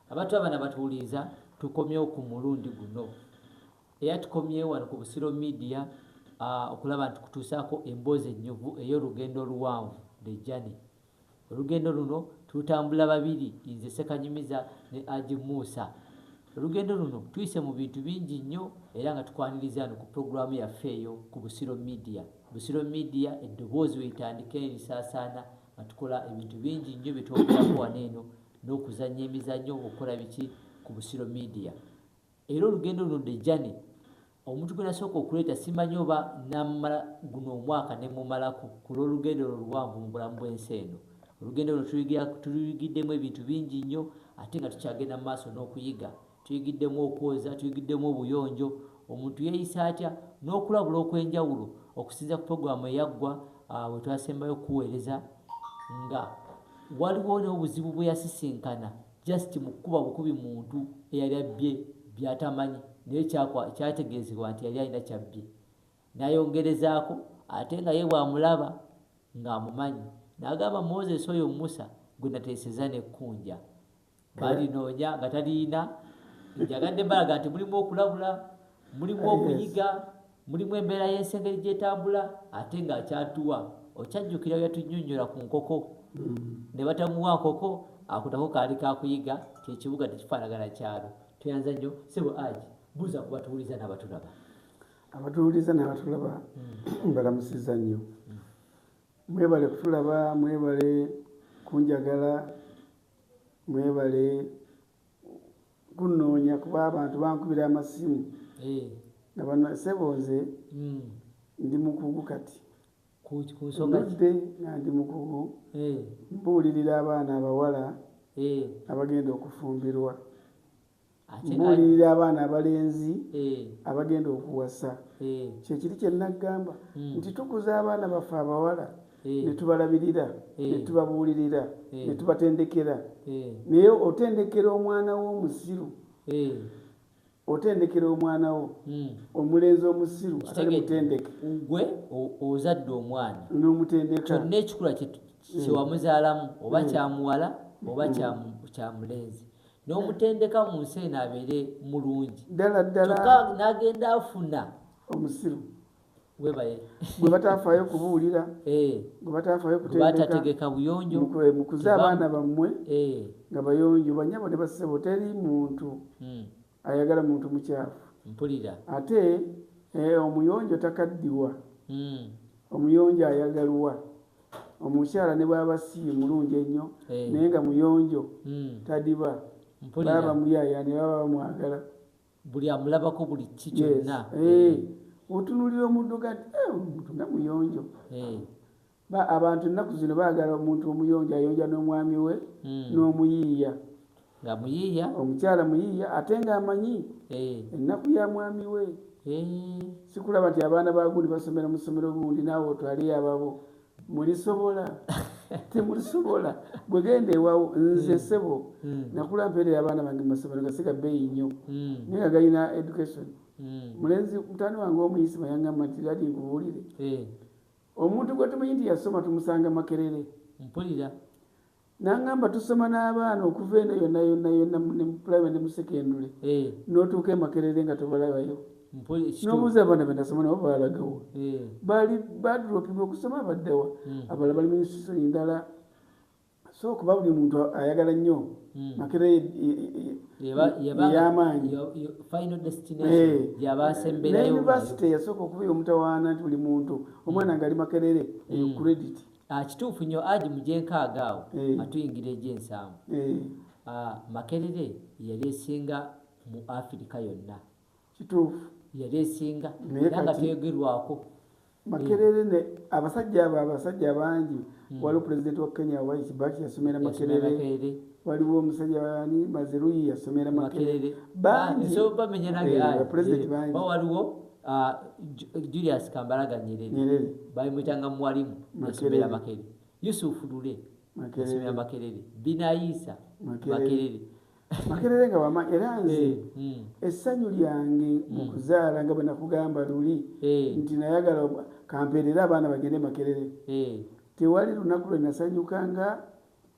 Abantu abana batuwuliriza tukomyewo ku mulundi guno era tukomyewo wano ku Busiro Media okulaba nti kutuusaako emboozi ennyuvu ey'olugendo oluwanvu the journey. Olugendo luno tulutambula babiri nze Ssekanyumiza ne Aji Musa. Olugendo luno tuyise mu bintu bingi nnyo era nga tukwaniriza wano ku pulogulaamu yaffe eyo ku Busiro Media. Busiro Media eddoboozi weetandika erisaasaana nga tukola ebintu bingi nnyo bye twogerako wano eno n'okuzannya emizannyo ng'okukola biki ku Busiro Media era olugendo luno the journey omuntu gwe nasooka okuleeta simanyi oba namala guno omwaka ne mumalako ku lw'olugendo olwo luwanvu mu bulamu bw'ensi eno olugendo luno tuluyigiddemu ebintu bingi nnyo ate nga tukyagenda mu maaso n'okuyiga Tuyigiddemu okwoza, tuyigiddemu obuyonjo, omuntu yeeyisa atya, n'okulabula okw'enjawulo okusinziira ku pulogulaamu eyaggwa we twasembayo okukuweereza nga waliwo n'obuzibu bwe yasisinkana just mu kukuba bukubi muntu eyali abbye by'atamanyi naye kyategeezebwa nti yali alina kyabbye n'ayongerezaako ate nga ye bw'amulaba ng'amumanyi n'agamba Moses oyo Musa gwe nateeseza n'ekkunja. balinoonya nga taliyina njagadde balaga nti mulimu okulabula mulimu ah, okuyiga mulimu embeera y'ensengeri gyetambula ate nga akyatuwa okyajjukira yatunyonyola ku nkoko mm. ne batamuwa nkoko akutako kaali kakuyiga kyekibuga tekifaanagana kyalo tweyanza nnyo sebo aji buuza ku batuwuliza n'abatulaba abatuwuliza n'abatulaba mm. mbalamusiza nnyo mm. mwebale kutulaba mwebale kunjagala Mwebale kunonya kuba abantu bankubira amasimu eh. nga bana sebo nze mm. ndi mukugu kati nudde nga ndi mukugu eh. mbuulirira abaana abawala eh. abagenda okufumbirwa mbuulirira abaana abalenzi eh. abagenda okuwasa eh. kyekiri kyenaggamba hmm. nti tukuza abaana baffe abawala eh. netubalabirira netubabuulirira netubatendekera naye otendekera omwana wo omusiru otendekera omwana wo hmm. omulenzi omusiru atali mutendeke gwe ozadde omwana nomutendeka kyonna ekikula kyewamuzaalamu oba kyamuwala oba kyamulenzi n'omutendeka mu nsi eno abeere mulungi ddala ddala kyokka n'agenda afuna omusiru webaye gwe batafaayo kubuulira eh. gwe batafaayo kutendekategeka buyonjo mukuze abaana bammwe eh. nga bayonjo banyabo ne basebo teri muntu hmm. ayagala muntu mukyafu mpulira ate eh, omuyonjo takaddiwa hmm. omuyonjo ayagalwa omukyala ne bwaba si mulungi ennyo eh. naye nga muyonjo hmm. tadiba baba bamuyaya ne baba bamwagala buli amulabako buli ki kyonna eh. otunulira omuntu ga eh, omuntu nga muyonjo abantu ennaku zino baagala omuntu omuyonjo ayonja n'omwami we hmm. n'omuyiiya nga muyiiya omukyala muyiiya ate nga amanyi eh. ennaku ya mwami we eh. sikulaba nti abaana bagundi basomera mu ssomero gundi naawe otwaleyo ababo mulisobola temulisobola bwegenda ewawo nze hmm. sebo hmm. nakula mpeerera abaana bange mumasomero gasiga beeyi nnyo hmm. naye nga galina education mulenzi mutani wange omuyisima yangamba nti ladi nkubuulire eh. omuntu gwe tumanyi nti yasoma tumusanga makerere mpulira nangamba tusoma n'abaana okuva eno yonna yonna yonna ne mu primary ne mu secondary eh. n'otuuka emakerere nga tobalabayo nobuuza abaana benasoma nabo baalagawo eh. bali badropinga okusoma abaddawa hmm. abala bali minisisoni ndala so kuba buli muntu ayagala nnyo hmm. makerere eyamaanyi yunivasite yasooka okuba eyomutawaana nti buli muntu omwana hmm. ngaali makerere eyo credit Ah, kituufu nyo aji mujenkaaga awo eh. atuyingira egyensanvu eh. ah, makerere yali esinga mu afirika yonna kituufu yali esinga era nga teyogerwako makerere ne abasajja abo abasajja bangi hmm. waliwo pulezidenti wa kenya wai kibaki yasomera makerere waliwo omusajja wani maziruyi yasomera makerere bangi eh, bamenyanagewaliwo Uh, Julius Kambaraga Nyerere, Nyerere. baimwitanga mwalimu yasomera Makerere, Yusuf Lule yasomera Makerere, Binayisa Makerere Makerere nga wama era nze eh, hmm. essanyu lyange mu hmm. kuzaala nga bwe nakugamba luli eh. nti nayagala kampeerera abaana bagende Makerere eh. tewali lunaku lwe nasanyuka nga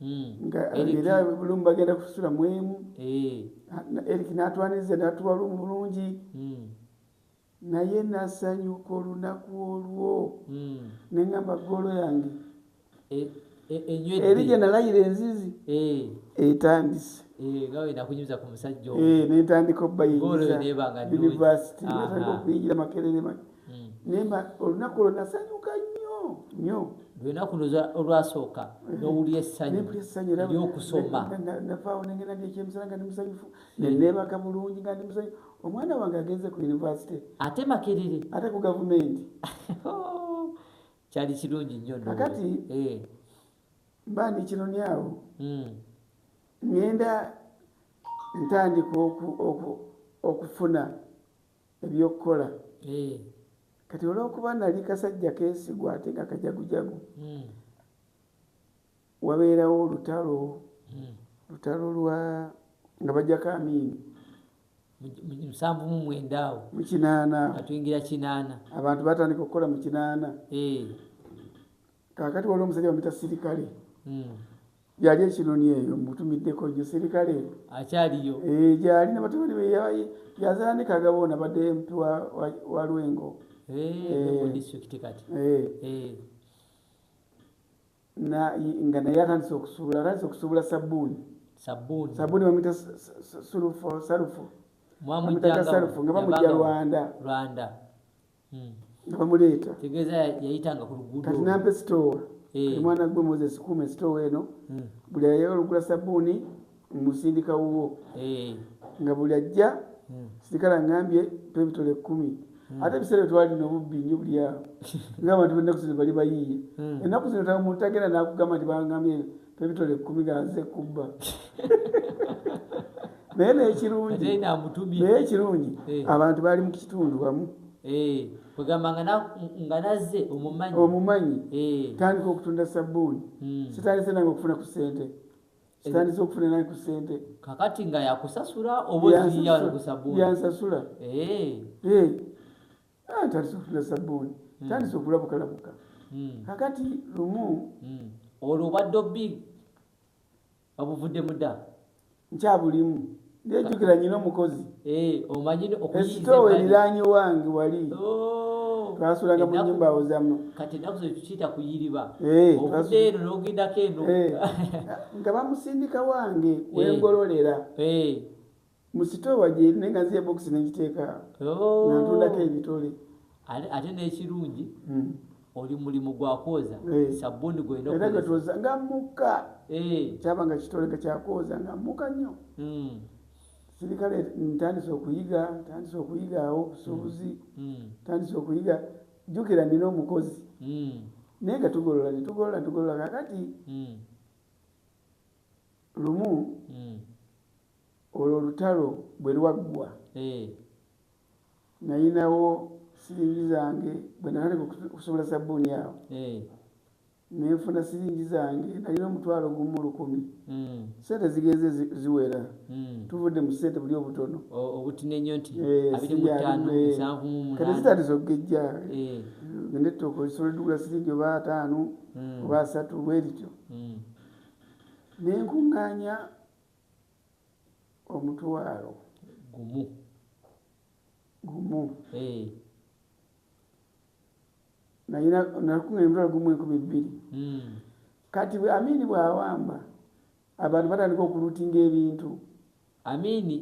Hmm. nga era lumu bagenda kusula mu emu eh. erik natwaniza natuwa lumu bulungi hmm. naye nasanyuka olunaku olwo hmm. neŋamba goolo yange eh, eh, eri gye nalayira enzizi etandise nentandika obbayingiza univesity netandika okuyingira makerere hmm. nemba olunaku olwo nasanyuka nnyo nnyo lwenaku olwasooka eh. nowulya essanyu eryokusoma navaawo nengenda ndekyemisana nga ndi musanyufu neneebaka hmm. bulungi nga ndi musanyufu omwana wange agenze ku univesity ate makerere ate ku gavumenti kyali kirungi nnyo kakati eh. mba ndi kinoni awo hmm. ngenda ntandika okufuna eby'okukola eh. kati olw'okuba nali kasajja keesigwa ate nga kajagujagu hmm. wabeerawo olutalo hmm. lutalo lwa nga bajjako amiini musanvu mu mwenda awo mu kinaana atuyingira kinaana abantu batandika okukola mu kinaana eh. kakati waliwo omusajja bamuyita sirikale hmm. yali ekinoni eyo mutumiddeko nyo sirikale akyaliyo eh, gyali nabatabani be yazala ne kagabo nabadde mpi wa lwengo nga naye atandise okusuula atandise okusuubula sabbuuni sabbuuni sabbuuni bamuyita salufu salufu nga bamujja rwanda rwanda hmm. nga bamuleeta kati nampa esitoowa eh. omwana gwe moses kuuma esitoowa eno hmm. buli ayagala okugula sabbuuni musindika wuwo eh. nga buli ajja hmm. sirikala ngambye twebitole ekkumi ate ebiseera twalina obubbi nyo buli awo ngaabantu benaku zino bali bayiiye enaku zino omuntu agenda nakugamba nti bangambye ebitole ekkumi ganze ekubba naye nekirungi naye ekirungi eh. abantu bali mu kitundu wamu eh, kwegamba nga nazze omumanyi omumanyi eh. tandika okutunda sabbuuni hmm. sitandise nange okufuna ku sente sitandise okufuna nange ku sente kakati nga yakusasula obayansasula atandise okufuna sabbuuni hmm. tandise okulabukalabuka hmm. kakati lumu hmm. olwo obadde obbi obuvuddemu dda nkyabulimu ndejukira nyina omukozi eh, esitoowa eriraanye wange wali oh. twasulanga mu nyumba awozamu nga bamusindika wange wengololera musitowa gyeri naye nga nziya bokisi nengiteeka oh. nantundako ebitole ate nekirungi hmm. oli mulimu gwakwoza eh. sabuni gwenagatoza nga muka eh. kyaba nga kitole nga kyakwoza nga muka nnyo hmm. sirikale ntandise okuyiga ntandise okuyiga awo obusuubuzi hmm. ntandise okuyiga jukira nina omukozi naye nga tugolola netugolola netugolola kakati lumu Olwo olutalo bwe lwaggwa, nnalinawo siringi zange bwe natandika okusubula sabbuuni awo ne nfuna siringi zange. Nnalina omutwalo gumu lukumi. Ssente zigenze ziwera. Tuvudde mu ssente buli obutono. Obutini ennyo nti abiri mu ttaano, nsanvu mu munaana. Kati zitandise okugejja. Ogenda ettooke olisobola oligula siringi oba ataano oba asatu bwe lityo. Ne nkuŋŋaanya omutwalo gumu gumu eh. nakuŋŋanya omutwalo gumu enkumi bbiri hmm. kati amiini bw'awamba abantu batandika okulutinga ebintu amiini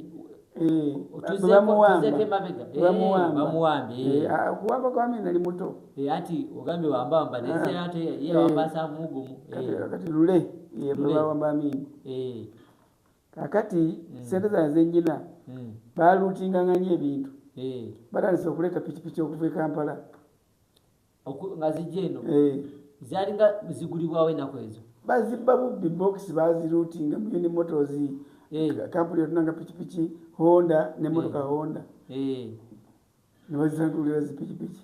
okuwamba kwami nali muto ati ogambye wambawamba nayewambasamugumakati lule yebawamba amini kakati mm. sente zana zenyina mm. balutinganganya ebintu batandise okuleeta pikipiki okuva e kampala nga zijja eno eh. zalinga zigulibwawo enaku ezo bazibba bubbi box bazirutinga muyuni motozi eh. kampuni yotunanga pikipiki honda nemotoka eh. honda nebazisangulira zipikipiki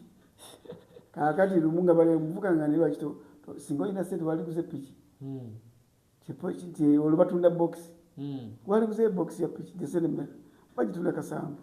kakati lumu nga bali muvuka nga nelwakito singa olina sente waliguze piki hmm. nti olwo batunda box hmm. waliguze box ya piki desenemera bagitunda kasanvu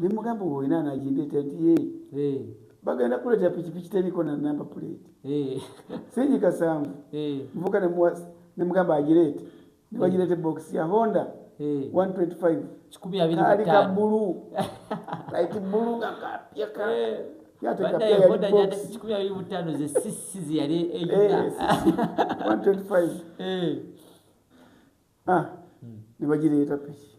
ne mugamba owo ina anajindeta nti ye eh. bagenda kuleta pikipiki teriko na namba puleti eh. sinyi kasanvu eh. nvuka ne mugamba agireete ne bagireeta ebokisi ya honda 125 kali ka bulu laiti bulu nga kapya ka nebagireeta piki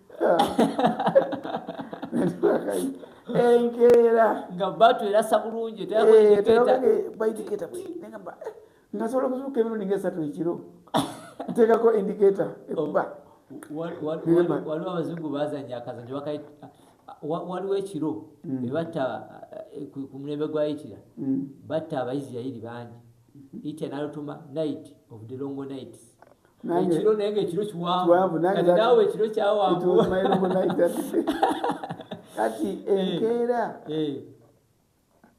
enkeera nga batu erasa bulungi teyakoindiketa eh, negamba eh, ngasobola okuzuuka emirundi nga esatu ekiro nteekako indiketa ekuba waliwo abazungu bazanya akazanyo waliwo ekiro mm. ebatta eh, ku mulembe gwa itira mm. batta abaisirairi bangi mm-hmm. itira nalutuma night of the longo nights ekiro naye nga ekiro kiwanvu kati naawe ekiro kyawanvu kati eh, enkeera eh.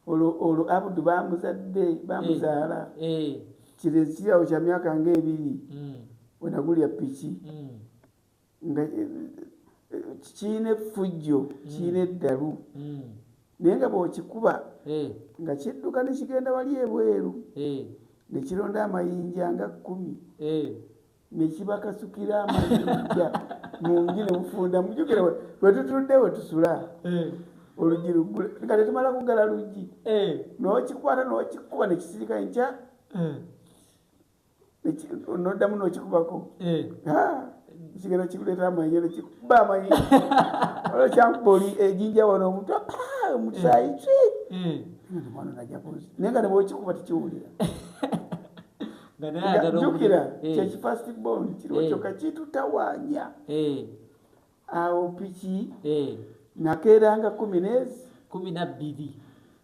olwo abudu bamuzadde bamuzaala eh, kirezikirawo kya myaka ngaebiri mm. wenagulya piki mm. nga eh, eh, kirina effujjo kirina mm. eddalu mm. naye nga bwokikuba eh. nga kidduka nekigenda wali ebweru nekironda amayinja nga kkumi nekibakasukira amayinja mungi nemufunda mujukira wetutudde wetusula olugi lugule nga tetumala kugala lugi nokikwata nokikuba nekisirika nkya noddamu nokikubako eh. kigenda kikuleeta amanyi nekikuba amanyi olwokyankuba oli ejinja wano omutu omukisayi ki mwana najakuzi naye nga nebwokikuba tekiwulira jukira kyekifast bon kiriwo kyoka kitutawanya awo piki nakeeranga kumi nezi kumi nabbiri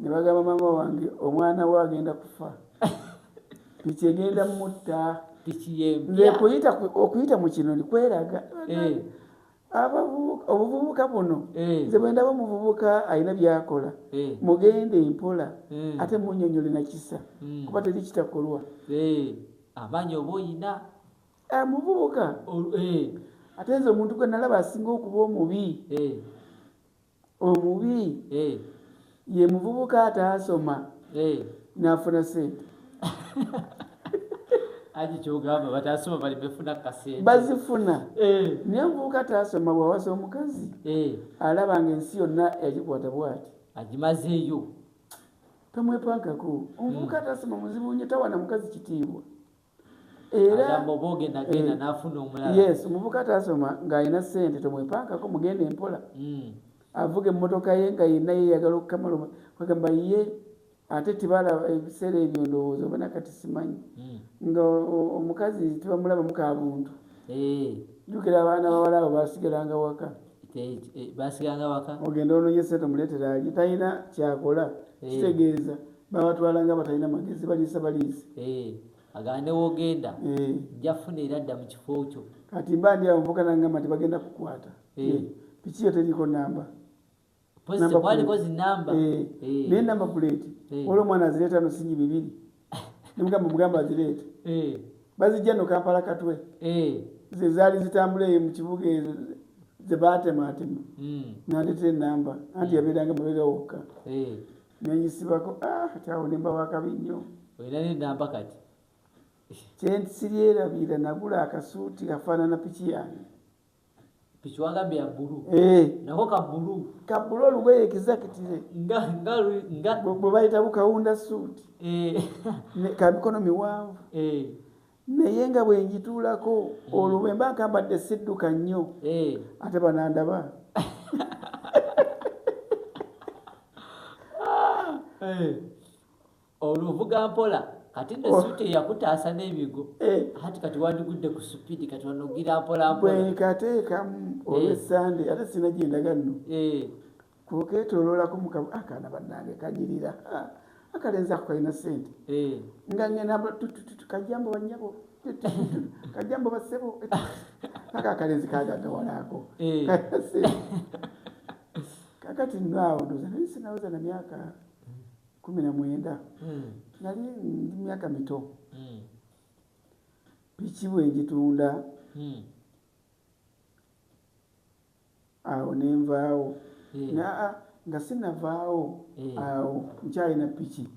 ne bagamba maama wange omwana we agenda kufa piki egenda mutta okuyita okuyita mu kino ni kweraga eh. obuvubuka buno eh. nze bwendaba omuvubuka alina byakola eh. mugende empola ate munyonyole nakisa hmm. kuba teri kitakolwa amaanyi oba oyina ah, muvubuka ate nze omuntu gwe nalaba asinga okuba omubi Omubi ye muvubuka ataasoma nafuna sente. Haji kyogamba batasoma bali befuna kasente. Bazifuna. Eh. Naye omuvubuka ataasoma bwawasa omukazi eh. alaba nga ensi yonna yagikwata bwati. Agimazeeyo. Tomwepankako. Omuvubuka hmm. ataasoma muzibu nnyo tawana mukazi kitiibwa. yes omuvuka atasoma ng'alina sente tomwepankako mugenda empola hmm. avuga emmotoka ye nga yenna yeyagala okukamala agamba ye ate tibala ebiseera ebyo ndowooza obana kati simanyi hmm. nga omukazi tibamulabamu ka buntu eh. jukira abaana bawala abo basigalanga waka basiganga waka ogenda ononye sente muletera ali talina kyakola eh. kitegeeza babatwala nga batalina magezi baliisa baliisi eh. agamba newogenda eh. njafuna era dda mu kifo kyo kati mba ndi awo nvukanangamba nti bagenda kukwata piki yo teriko namba naye namba puleeti olwo omwana azireeta no sinyi bibiri nemugamba mugamba azireete bazijja no kampala katwe ze zaali zitambula eyo mu kibuga ezo zebaatemaatema hmm. nandetera enamba anti hmm. yabeeranga mabega wokka nenyisibako ah, tyawo nemba wakabi nnyo kyensirierabira nagula akasuuti afaanana piki yange tukiwagambye ya bulu eh. nako ka bulu ka bulu olugoye ekizakitire nga nga nga bwe bayita bukawunda suuti eh. ka mikono miwanvu eh. naye nga bwe njituulako hmm. olwo bwe mba nkambadde sidduka nnyo ate banandaba ah. Olwo ovuga mpola kati ne oh. suite yakutaasa n'ebigo eh. hati kati wandigudde ku supidi kati wanogira mpola mpola bwenkateekamu eh. olwesande ate sina gyendaga nno eh. kuketoloolako mukabu akaana ah, bannange kanyirira ah, akalenza kukalina sente nga ngenda kajambo banyabo kajambo basebo aka akalenzi kagagawalaako kakati naawo ndoza naye sinaweza na myaka Kumi na mwenda nali ndi myaka mito piki bwenjitunda awo nenvaawo naa nga sinavaawo awo nkyalina piki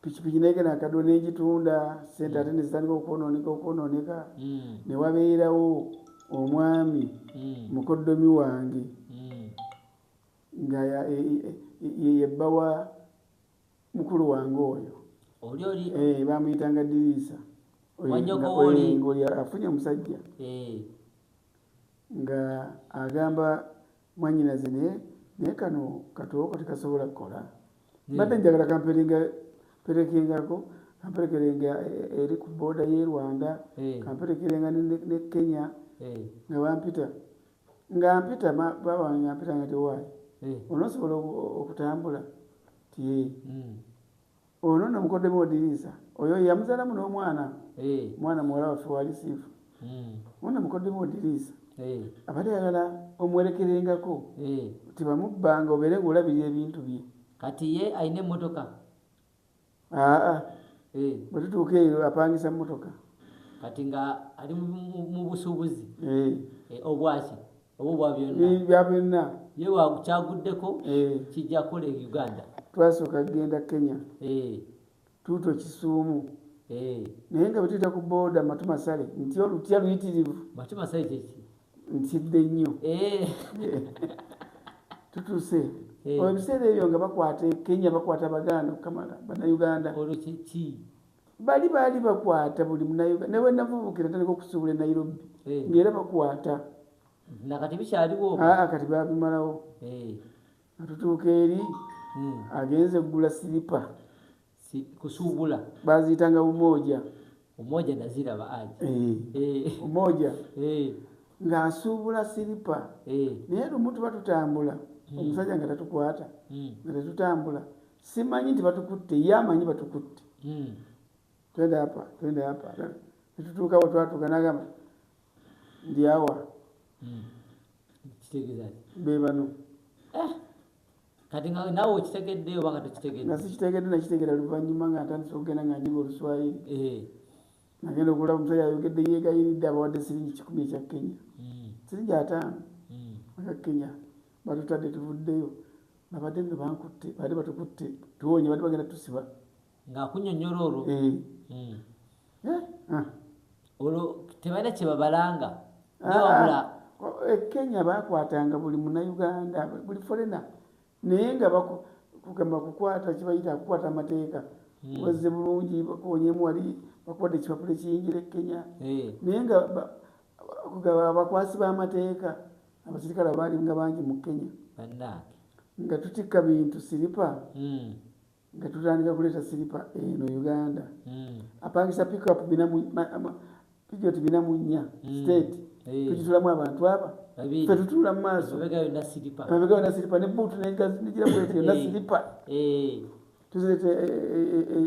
pikipiki naye gena akadwa nenjitunda sente ate nezitandika okwononeka okwononeka newabeerawo omwami mukoddomi wange Nga ya, e, e, e, ye, ye bba wa mukulu wange oyo. Oli oli. Eh, bamuyitanga Diriisa. Wanyogo oli. Eh, ngoli afunye omusajja. Eh. Nga agamba mwanyinaze naye naye kano katooko tekasobola kukola. Hmm. Mbadde njagala kamperinga perekengako kamperekerenga eh, eri ku booda y'e Rwanda, eh. kamperekerenga ne, ne, ne Kenya. Eh. Nga bampita. nga mpita baba wange nga mpita nga tewaayi eh. onosobola okutambula tie eh. hmm. ono no mukodemu odiriisa oyo yamuzalamu n'omwana eh. mwana muwala waffe wali siifu hmm. ono mukodemu odiriisa abali alala omwerekerengako tibamubbanga obeere nga olabirira ebintu bye kati ye alina emotoka aa eh. bwetutuuka eyo apangisa motoka kati nga ali mubusubuzi eh. eh, obwaki oba obwabyonnabyonna ye kyaguddeko kijja kola e uganda twasooka kugenda kenya tuuto kisuumu naye nga bwetuyita ku booda matumasale nti olutya luyitirivu matumasale kyeki ntidde nnyo eh. tutuse eh. ebiseera ebyo nga bakwata e kenya bakwata abaganda okukamala banauganda olwo kyeki bali baali bakwata buli munauganda nawe navuvukira tandika okusuubula e nairobi eh. ngaera bakwata nakati bikyaliwo aa ah, kati babimalawo atutuuka eri hmm. agenze eggula siripa si kusuubula baaziyitanga umooja umooja naziraba aji eh. eh. umooja eh. ng'asuubula siripa eh. naye lumu tuba tutambula hmm. omusajja nga tatukwata hmm. nga tetutambula simanyi nti batukutte ye amanyi batukutte hmm. twende apa twende apa netutuuka we twatuuka nagamba ndyawa be bano eh. kati nga nawe okitegedde oba nga tekitegedde nga sikitegedde nakitegera luvannyuma nga ntandise okugenda nga njiga oluswayiri eh. nagenda okulaba omusajja ayogedde yegayiridde abawadde siringi kikumi ekya kenya hmm. siringi ataano hmm. aka kenya batutadde tuvuddeyo babadde nga bankutte baali batukutte tuwonye baali bagenda tusiba ng'akunyonnyola olwo eh. hmm. eh, ah. olwo tebalina kye babalanga ah, newabula ah. e kenya bakwatanga buli munauganda buli forena naye nga kugamba kukwata kibayita kukwata amateeka hmm. wazze bulungi bakonyemu wali bakwata ekipapula ekiyingira e kenya eh. naye nga abakwasi b'amateeka abasirikale abaali nga bangi mu kenya nga tutikka bintu siripa hmm. nga tutandika kuleeta siripa eno uganda hmm. apangisa pikup pijoti bina mu nnya hmm. state eh. tukitulamu abantu aba fe tutuula mu maaso amabega yona siripa ne buutu negira bweti yona siripa tuzireta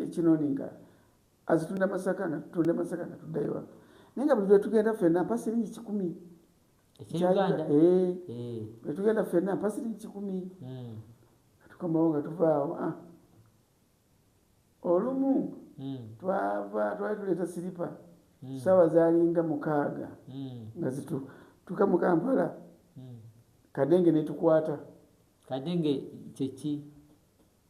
ekinoninga azitunda masaka nga tutunda masaka nga tuddayo naye nga buli lwetugenda fena mpasiringi kikumi etugenda eh. fena pasiri kikumi hmm. atukomawo nga tuvaawo ah. olumu hmm. twava twali tuleeta siripa hmm. saawa zalinga mukaaga nga zituka mu kampala kadenge netukwata kadenge kyeki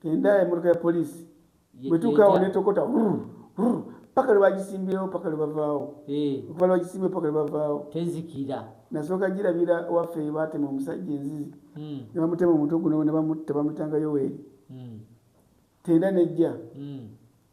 Tenda emotoka ya poliisi bwetuukaawo netokota paka lwebagisimbyewo paka lwebavaawo eh. okuva lwagisimbye paka lwebavaawo tezikira nasooka girabira waffe batema omusajja enzizi hmm. nebamutema omuntu guno nebamutta bamutanga yoweri hmm. tenda nejja hmm.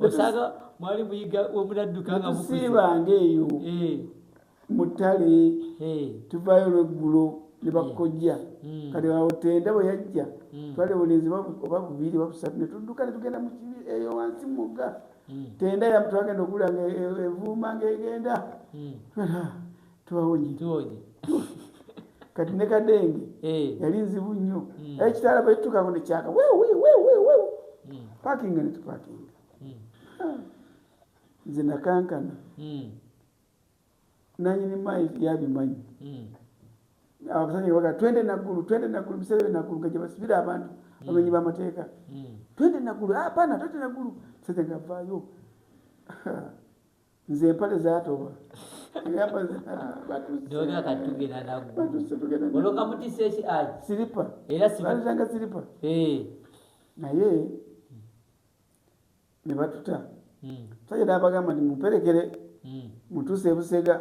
osanga mwali muyiga omunadduka nga musiibanga eyo eh. mu ttale eh. tuvayo lweggulo ne bakojja eh. hmm. kati otenda bwe yajja hmm. twali bulenzi oba bubiri oba busatu ne tudduka ne tugenda mukibi eyo wansi mugga hmm. tenda yamutwagenda okulanga evuuma ngaegenda tubawonye tubawonye kati ne kadenge eh. yali nzibu nnyo hmm. era kitala bwetutukako nekyaka wewewewewe hmm. pakinga netupakinga hmm. nze nakankana nanyini mayi yabimanyi abasajja baga twende naggulu twende naggulu biseera bye naggulu nga gyebasibira abantu bamenyi bamateeka twende naggulu apana ah, twende naggulu sajja ngavaayo nze empale zatoba siripaanga siripa naye nebatuta hmm. saja nabagamba nti mumperekere hmm. mutuuse ebusega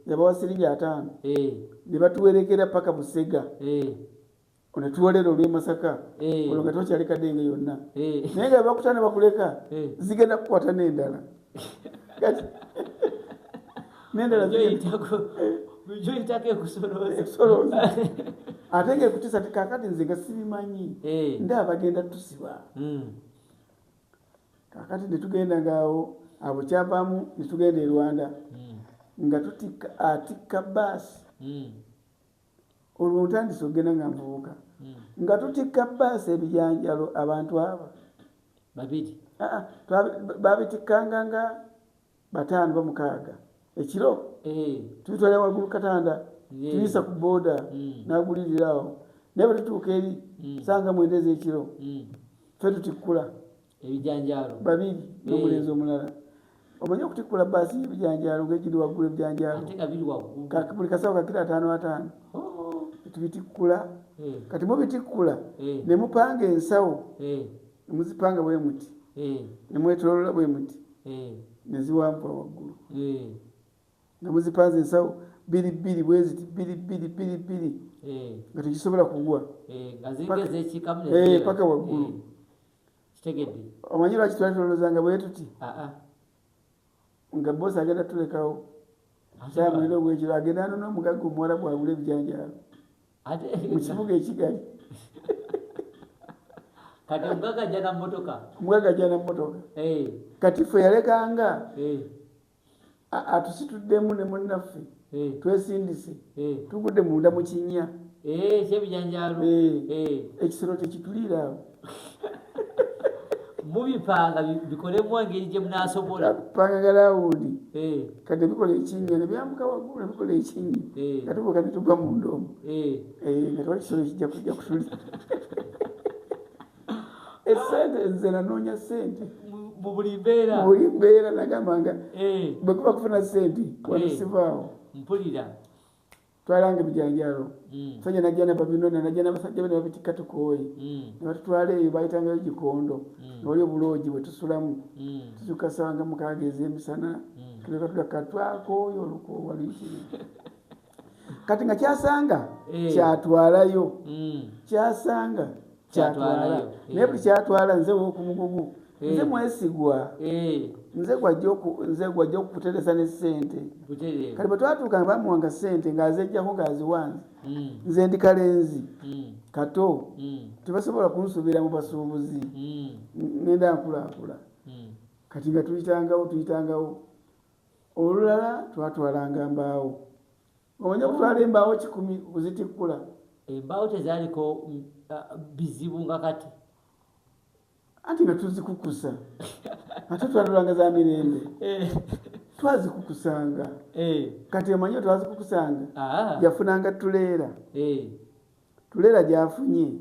yabawa siringi ataano nebatuwerekera paka busega ono tuwolera olw'e masaka eh. olwo nga tokyali kadenge yonna eh. naye nga bakuta ne bakuleka eh. zigenda kukwata n'endala n'endala ate nga ekutisa ti kakati nze nga sibimanyi nda abagenda tusiba hmm. kakati netugenda ngaawo abo kyavaamu netugenda e rwanda hmm. nga tutikka atikka baasi hmm. olwo ntandise okugenda nga nvubuka hmm. nga tutikka baasi ebijanjalo abantu abo babiri ah, ah, babitikkanga nga bataano bamukaaga ekiro eh. tubitwala waggulu katanda tuyisa ku booda hmm. naguliriraawo naye batutuuka eri hmm. sanga mwendeza ekiro fe tutikkula ebijanjaalo babiri n'omulenzi eh. omulala omanyi okutikkula baasi y'ebijanjaalo ng'egiri waggulu ebijanjaalo buli kasawo kakira ataano ataano oh. tubitikkula eh. kati mubitikkula eh. ne mupanga ensawo ne muzipanga bwe muti ne mwetolola bwe muti ne ziwambwa waggulu nga muzipanze ensawo biri bbiri bwe ziti biri bbiri biri bbiri nga tekisobola kugwa paka waggulu kitegedde omanyi lwaki twali tulowozanga bwe tuti nga bosi agenda tulekawo kyamuliro ogwekiro agenda anona omugagga omuwala bwagula ebijanjaalo mu kibuga ekigali kati omugagga ajja na mmotoka omugagga ajja na mmotoka eh. kati ffe yalekanga eh. atusituddemu ne munnaffe eh. twesindise eh. tugudde munda mu kinnya ekyebijanjalo ekisero tekituliira awo mubipanga bikolemu engeri gye munasobola panga galawundi kati bikola ekinnya nebyambuka waggulu nebikola ekinnya katubuka netugwa munda omu nga twali kisolo kijja kujja kutulira esente nze nanoonya sente mu buli mbeera mu buli mbeera nagamba nga eh. bwe kuba kufuna sente wano eh. sivaawo mpulira twalanga ebijanjaalo hmm. fenya najana babinona najana basajja bene babitikka tukooye hmm. nebatutwala eyo bayitangayo gikondo hmm. newali obuloogi bwe tusulamu tutukasanga mukaaga ez'emisana tuekatulaka twakooyo olukoowa luyitire kati nga kyasanga eh. kyatwalayo mm. kyasanga kyatwalayo eh. naye buli kyatwala nze wokumugugu eh. nze mwesigwa nze gwajja okukuteresa ne sente kati bwetwatuuka nga bamuwanga sente ngaazejjako ngaaziwanze mm. nze ndi kalenzi mm. kato tebasobola kunsuubira mu basuubuzi ngenda nkulaakula kati nga tuyitangawo tuyitangawo Olulala twatwalanga mbaawo. Omanyi okutwala embaawo kikumi okuzitikkula? Embaawo tezaaliko mm, bizibu nga kati. Anti nga tuzikukusa ate twalulanga za mirembe eh. twazikukusanga eh. kati omanyi twazikukusanga ah. yafunanga tuleera eh. tuleera gyafunye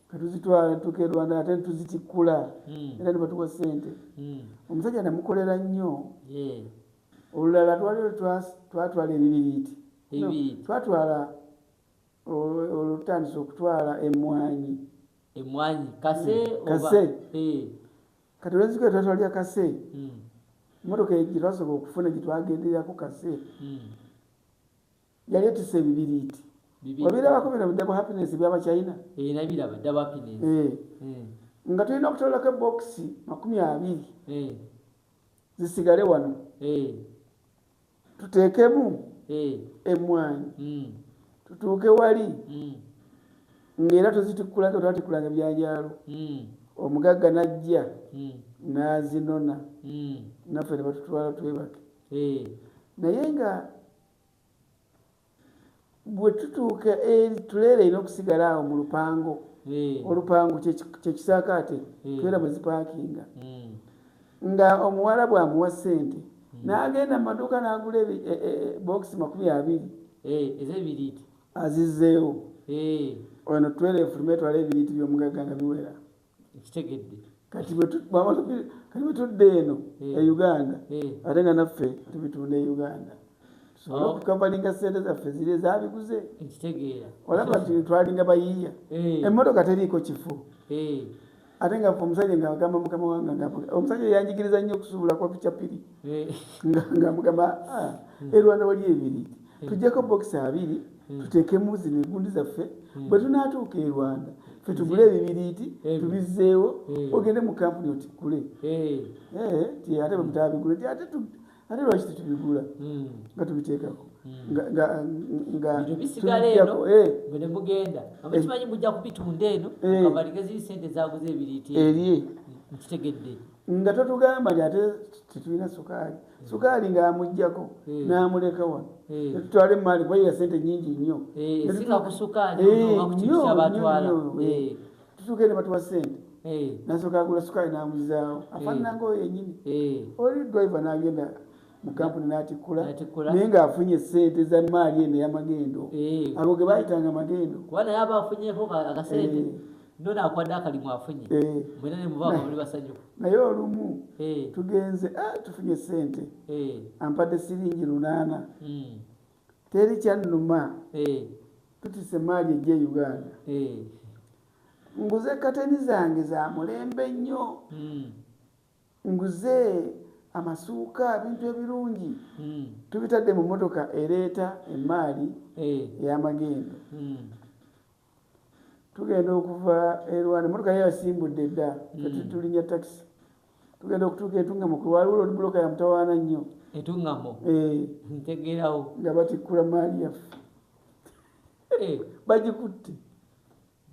katuzitwala tuke rwanda ate netuzitikkula hmm. era nebatuwa sente hmm. omusajja namukolera nnyo olulala twalio twatwala ebibiriiti twatwala olutandisa okutwala emwanyi emwanyi kase hmm. kase kati olwenziko twatwalya kase motoka gyetwasobola okufuna gyetwagendererako kase yali etuse ebibiriiti obirabako bino bidabu happiness byabachina eh, eh. nga tulina okutololako ebokisi makumi abiri eh. zisigale wano tuteekemu emwanyi hmm. tutuuke wali hmm. ngaera tuzitikkulako twatikkulanga ebyanjaalo hmm. omugagga najja nazinona naffe nebatutwala twebake naye nga bwe tutuuka eri tuleera erina okusigala awo mu lupango hmm. olupango kyekisaakaate hmm. tuleera mwe zipaakinga hmm. nga omuwala bwamuwa ssente n'agenda mu maduuka n'agula e, e, e, bokisi makumi abiri ez'ebiriiti azizeewo ono twera efulume etwala ebiriiti by'omugagga nga biwera ekitegedde kati bwetudda eno eh. e uganda eh. ate nga naffe tubitunda e uganda tusobole oh. okukavalinga sente zaffe ziri ezabiguze ekitegeera olaba nti twalinga bayiiya eh. emmotoka teriiko kifo ate nga omusajja nga agamba mukama wange nga omusajja yanjigiriza nnyo okusuubula kwa pichapiri nga mugamba ah, hmm. erwanda wali ebiri hmm. tujjako bokisi abiri hmm. tuteekemu zino engundi zaffe hmm. bwe tunaatuuka e rwanda fe tugule ebibiriiti tubizzeewo ogende mu kampuni otikule eh, ti ate bwe mutabigule ti ate ate lwaki tetubigula nga tubiteekako ngabisigala eno bwene eh. mugenda aba eh. kimanyi mujja kubitunda eno kabaligezi sente zaguze ebiriiti erie nkitegedde nga totugamba nti ate tetulina sukaali sukaali ng'amugjako hmm. n'amuleka wano hmm. netutwala emaali kuba ya sente nyingi nnyo eh, eh, tutuuke ne batuwa sente eh. nasooka agula sukaali n'amuzaawo afaanananga oyo yenyini oli driver n'agenda mu kampuni n'atikkula naye ng'afunye sente za maali eno eyamagendo ago ge bayitanga magendo nona akwade akalimu afunye eh. mwena nemubanga muli basanyuku naye olumu eh. tugenze ah, tufunye sente eh. ampade siringi lunana hmm. teri kyanuma tutise maali eje uganda nguze kateni zange zamulembe nnyo hmm. Nguze amasuuka, ebintu ebirungi hmm. tubitadde mu mmotoka ereeta emmaali eh. ey'amagendo. Hmm. Tugenda okuva e Rwanda, emmotoka ye yasimbudde dda, hmm. tulinya takisi. Tugenda okutuuka etungamo, waliwo loodi buloka ya mutawaana nnyo. Etungamo? Eh. Ntegeerawo. Nga batikkula maali yaffe. Eh. Bagikutte.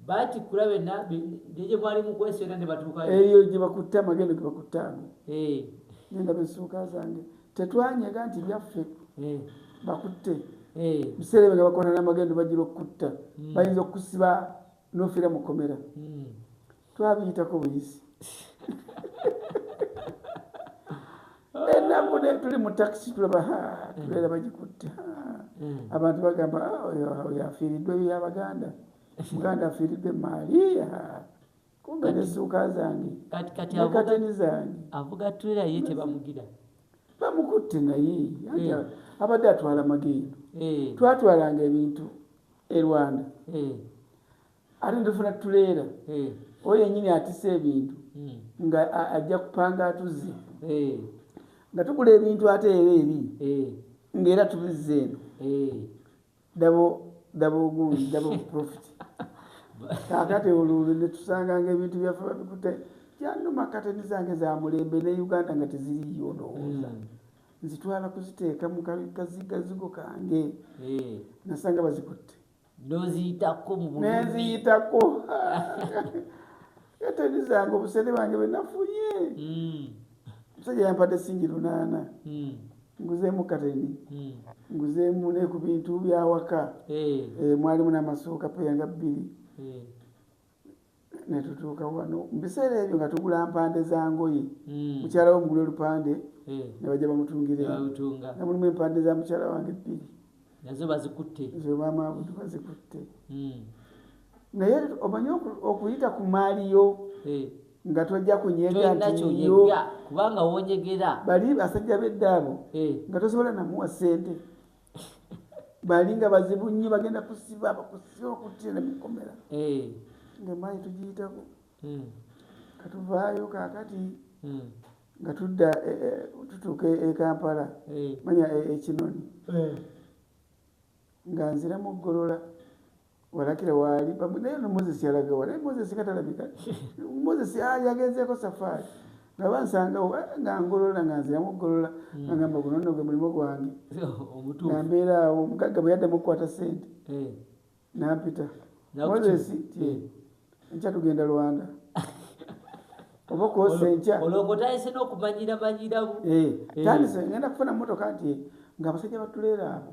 Batikkula be na be ne gye mwali mukwese era ne batuukayo. Eyo gye bakutte amagendo ge bakutte ago. Eh. Nenda besuuka zange tetwanyega nti byaffe eh. bakutte eh. biseera ebyo nga bakola n'amagendo bajira okukutta hmm. bayinza okukusiba n'ofiira mu kkomera hmm. twabiyitako buyisi ennaku naye tuli mu takisi tulaba tubeera bagikutte hmm. abantu bagamba ah, oyo afiiriddwa ebyo yabaganda muganda afiiriddwa emaali kumbe nesuuka zange nekateni zange avuga twera ye tebamugira bamukutte naye eh. abadde atwala magendo eh. twatwalanga ebintu e rwanda eh. ate ndifuna tuleera oyo yenyini atisa ebintu hmm. nga ajja kupanga atuzze nga tugula ebintu ate era eri ngaera tubizza eno dabo dabo ogundi dabo profit kakati oluulu netusanganga ebintu byaffe babikute kyanuma kateni zange zamulembe ne uganda nga teziriyo ndowooza hmm. nzitwala kuziteeka mukazigazigo kange nasanga bazikutte noziyitako nenziyitako eteni zange obusente bange bwenafunye hmm. omusajja yampadde singi lunaana hmm. nguzeemu kateni hmm. nguzeemu ne ku bintu byawaka eh. Eh, mwalimu n'amasuuka peyanga bbiri eh. ne tutuuka wano mu biseera ebyo nga tugula mpande za ngoye hmm. mukyala wo mugula olupande eh. ne bajja bamutungiranga nga mulimu empande za mukyala wange bbiri nazo bazikutte zo maama abudu bazikutte hmm. naye omanyi okuyita ku maali yo eh. nga tojja kunyegantiyo kubanga wonyegera bali basajja beddaabo eh. nga tosobola namuwa ssente balinga bazibu nnyo bagenda kusiba bakusiba okuttira ne mukomera eh. ng'emmaanyi tugiyitako hmm. katuvaayo kaakati hmm. nga tudda e, e, tutuuka e kampala eh. manya ekinoni eh. nga nziramu oggolola walakira waali naye no moses yalaga wa naye moses nga talabika moses ah, yagenzeeko safaari nga bansangawo eh, nga ngolola nga nziramu okugolola hmm. agamba guno nno gwe mulimu gwange nga mbeera awo omugagga bwe yaddamu okukwata sente eh. nampita moses ti eh. nkya tugenda lwanda oba okwosa enkya olwokotayise n'okumanyira manyiramu tandise ngenda kufuna motoka nti nga abasajja batuleera abo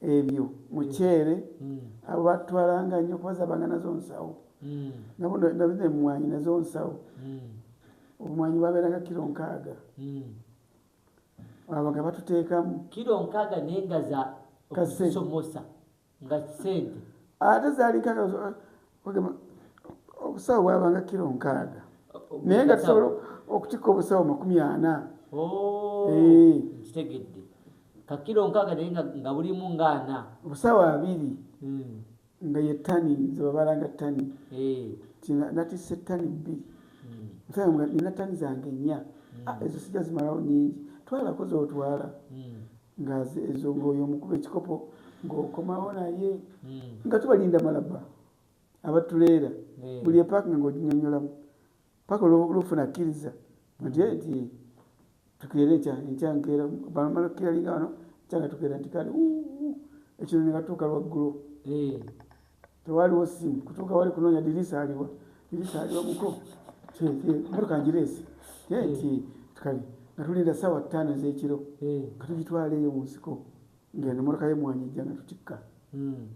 ebyo muceere abo batwalanga nnyo kuba zabanga nazo nsawo nabunemwanyi nazo nsawo obumwanyi babeeranga kiro nkaaga abo nga batuteekamu kiro nkaaga naye nga za okusomosa nga sente ate zaali nkaaga bagamba obusawo bwabanga kiro nkaaga naye nga tusobola okutikka obusawo makumi ana oh, eh. kitegedde kakiro nkaaga naye nga bulimu ngaana obusawo abiri hmm. nga ye tani zebabalanga tani eh. natisa ettani bbiri hmm. nina tani zange ennya hmm. ah, ezo sija zimalawo nyingi twalako zotwala nga ezo ngoyo omukuba ekikopo ng'okomawo naye hmm. nga tubalinda malaba abatuleera hmm. buli epaaka nga oginyonyolamu paka olwofuna akkiriza nti hmm. nti tukeera ekya enkyankeera bamala okukiralinga wano kyanga tukeera nti kale ekino ne batuuka lwaggulu tewaliwo simu kutuuka wali kunoonya dirisa aliwa dirisa aliwa muko motoka ngireese nti kale nga tulinda saawa ttaano ez'ekiro nga tugitwala eyo mu nsiko ngeno motoka yemwanyi ejja nga tutikka hmm.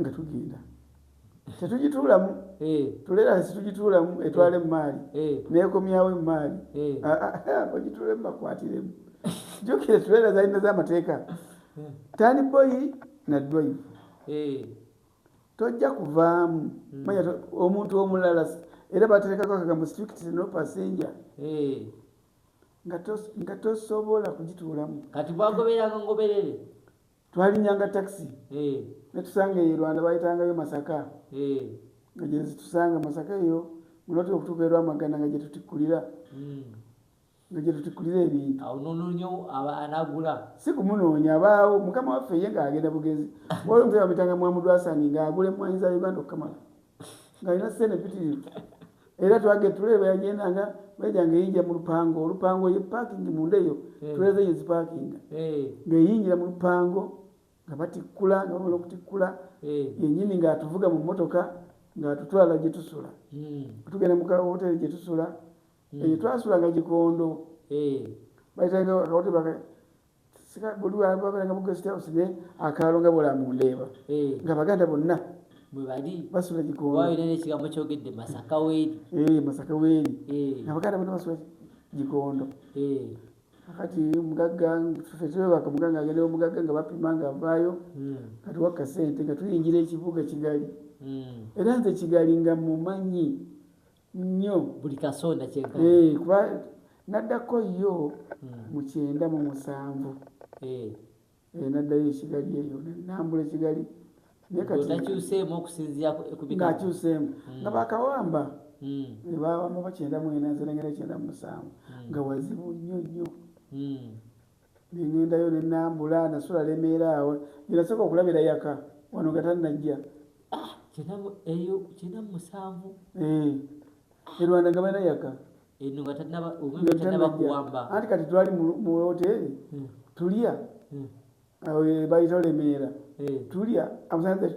nga tugenda tetugituulamu tuleera kasi tugituulamu etwala emaali neekomyawo emaali bagituula mubakwatiremu jukire tuleera zalina z'amateeka hmm. tani boyi na dwayivu eh. tojja kuvaamu hmm. manya omuntu omulala era baterekako akagambo strict no passenger eh. nga tosobola kugituulamu kati bwagoberanga ngoberere twalinyanga taxi eh. netusanga eyo rwanda bayitangayo masaka nga gyezitusanga masaka eyo muloti okutuuka erwamagana nga gyetutikkulira hmm. nga gye tutukulira ebintu awo nononyo anagula si kumunoonya abaawo mukama waffe ye ng'agenda bugezi waliwo omusaja bamuyitanga mwamudwasani ng'agula emmwanyi za uganda okukamala ng'alina sente mpitirivu era twage tule bweyagenda nga bweja ng'eyingira mu lupango olupango ye paakingi munda eyo eh. tuleeza eyo zipaakinga eh. ng'eyingira mu lupango nga batikkula nga bamala okutikkula eh. yennyini ng'atuvuga mu mmotoka ng'atutwala gye tusula hmm. tugenda mu kawoteeri gye tusula hmm. eyo twasulanga kikondo eh. baitanga akawoti baka sika buli wababeranga mu guest house ne akaalo nga bola mu ndeeba eh. nga baganda bonna bwebali basula kikondo wabira n'ekigambo kyogedde masaka weeri eh, masaka weeri nga baganda bonna basula kikondo kati mugagga fetulebaka mugagga agendewo mugagga nga bapima nga avaayo hmm. kati wakka sente nga tuyingira ekibuga kigali hmm. era nze kigali nga mumanyi nnyo buli kasonda kyenkana Eh, kuba naddako yo mu kyenda mu musanvu Eh, Eh, naddayo ekigali eyo nambula ekigali naye kati otakyuseemu okusinziira ku- ku bika ng'akyuseemu nga bakawamba Mm, ne bawamba bakyenda mwena nze nengera kyenda mu musanvu nga wazibu nnyo nnyo mm. nengendayo nenambula nasula lemeera awo jenasooka okulabira yaka wano nga tannajja ah, eyo kyenda musanvu eh, e rwanda nga balina yaka anti kati twali mu woteeri hmm. tulya hmm. awo bayita lemeera eh. tulya amusanze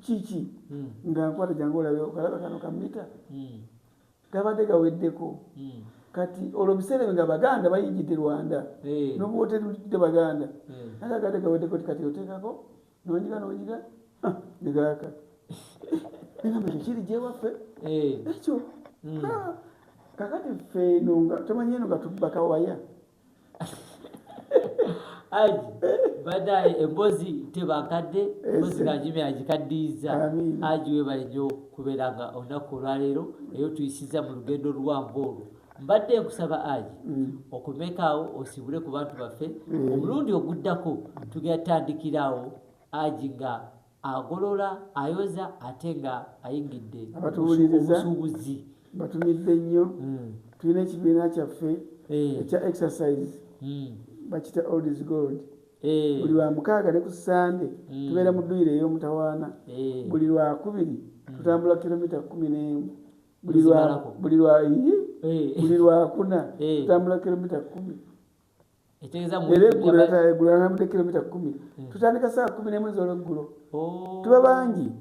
kiki hmm. nga nkwata jangu olabe okalaba kano kamita hmm. gabadde gaweddeko hmm. kati olwo biseera nga baganda bayingidde rwanda eh. nobuwoteri bujjudde baganda eh. naye agadde gaweddeko ti kati oteekako nonyiga nonyiga ah, negaaka negamba ekyo kiri gyewaffe eh. ekyo ah. kakati ffe eno nga tomanyi eno nga tubakawaya aji badaye embozi tebakadde embozi kajimi agikaddiyiza aji webale nyo kubeera nga olunaku olwaleero eyo tuyisiza mu lugendo luwanvu olwo mbadde nkusaba aji mm. okomekaawo osibule ku bantu baffe mm. omulundi oguddako tugenda tutandikiraawo aji nga agolola, ayoza ate nga ayingidde obusuubuzi. Batumidde nnyo. Hmm. Tulina ekibiina kyaffe eh. ekya exercise hmm. bakita old is gold eh. buli lwa mukaaga ne ku sande hmm. tubeera mu dduyiro ey'omutawaana eh. buli lwa kubiri tutambula kilomita kumi n'emu buli lwa buli lwa kuna tutambula kilomita kumi era eggulo natala eggulo anamudde kilomita kumi hmm. tutandika saawa kumi nemu ezolweggulo oh. tuba bangi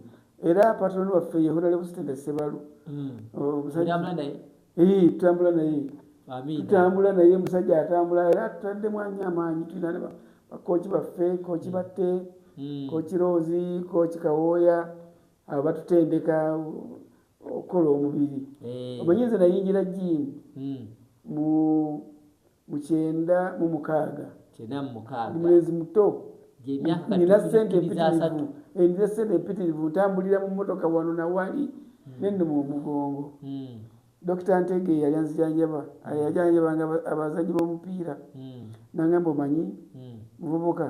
era patroni waffe ye honalebo sitende sebalu hmm. oh, tutambula naye tutambula naye musajja atambula era tutadde mwanyi amaanyi tulina ne bakooki baffe kooki hmm. batte kooki roozi kooki kawooya abo batutendeka okukola omubiri eh. omanyi nze nayingira jiini hmm. mu mukyenda mu mukaaga ndi mulenzi muto nina sente empitirivu eh, nina sente empitirivu ntambulira mu motoka wano nawali hmm. nenuma omugongo hmm. dokita ntege yali anzijanjaba yajanjabanga abazanyi bomupiira nangamba omanyi muvubuka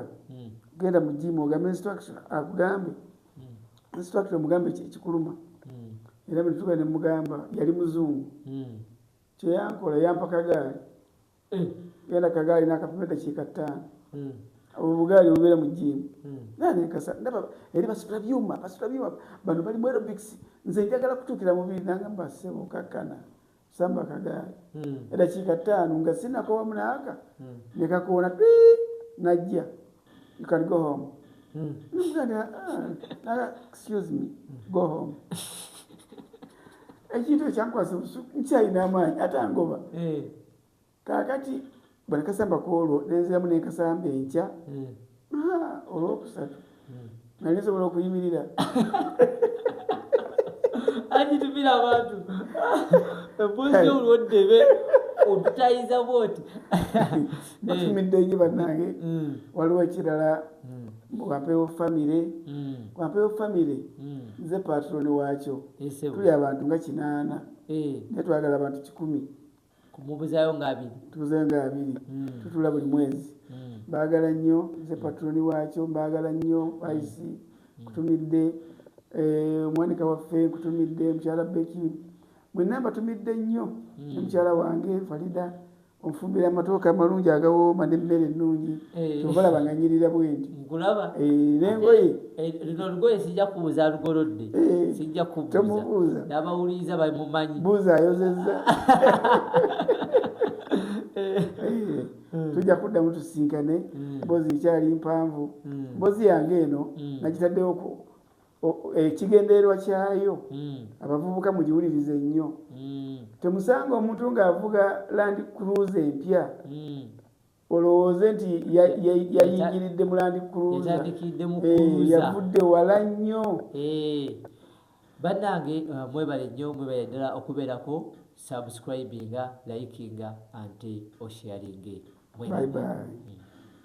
genda mu jiimu ogambe instruction akugambe nsitwakira mugambe ekikuluma hmm. era bwetuga ne mugamba yali muzungu hmm. kyeyankola yampa kagaali eh. genda kagaali nakapima edakiika ttaano hmm. obwo bugaali bubeera mu jiimu nanenkasa ndaba eri basitula byuma basitula byuma bano bali mu aerobics nze njagala kutuukira mubiri nangamba sebo kakkana samba kagaali hmm. edakiika ttaano nga sinakowa munaaka hmm. nekakoona ti najja you can go home hmm. ah, excuse me go home ekintu ekyankwasa obusuku nkyalina amaanyi ate angoba eh. kaakati bwe nakasamba ku olwo nenziramu ne nkasamba enkya hmm. olwokusatu hmm. nali nsobola okuyimirira agitumira abantu empozi olwoddebe otutayiza bwoti batumidde nyo bannange hmm. waliwo ekirala wampewo famire wampewo famire nze patroni waakyo tuli abantu nga kinaana eh. naye twagala abantu kikumi kumubuzayo nga abiri tubuzayo nga abiri mm. tutula buli mwezi mm. bagala nnyo nze mm. patroni wakyo mbagala nnyo aisi mm. mm. kutumidde eh, omwanika waffe nkutumidde mukyala beki mwenna mbatumidde nnyo mm. omukyala wange falida onfumbira amatooka amalungi agawooma nemmere ennungi eh. tobalabanganyirira bwendi nkulaba eh, nengoye eh, lino lugoye sijja kubuuza alugolodde eh, sijja kubuuza nabawuliriza bamumanyi buuza ayozeza tujja kuddamu tusinkane hmm. mbozi ekyali mpanvu hmm. mbozi yange eno hmm. nagitaddewo ekigendererwa kyayo hmm. abavubuka mugiwulirize nnyo hmm. temusanga omuntu ng'avuga land cruise empya hmm. olowooze nti yayingiridde mulandi kruzyavudde eh, wala nnyo eh, bannange eh, mwebale nnyo mwebale ddala okubeerako subscribinga likinga ante osharinge bye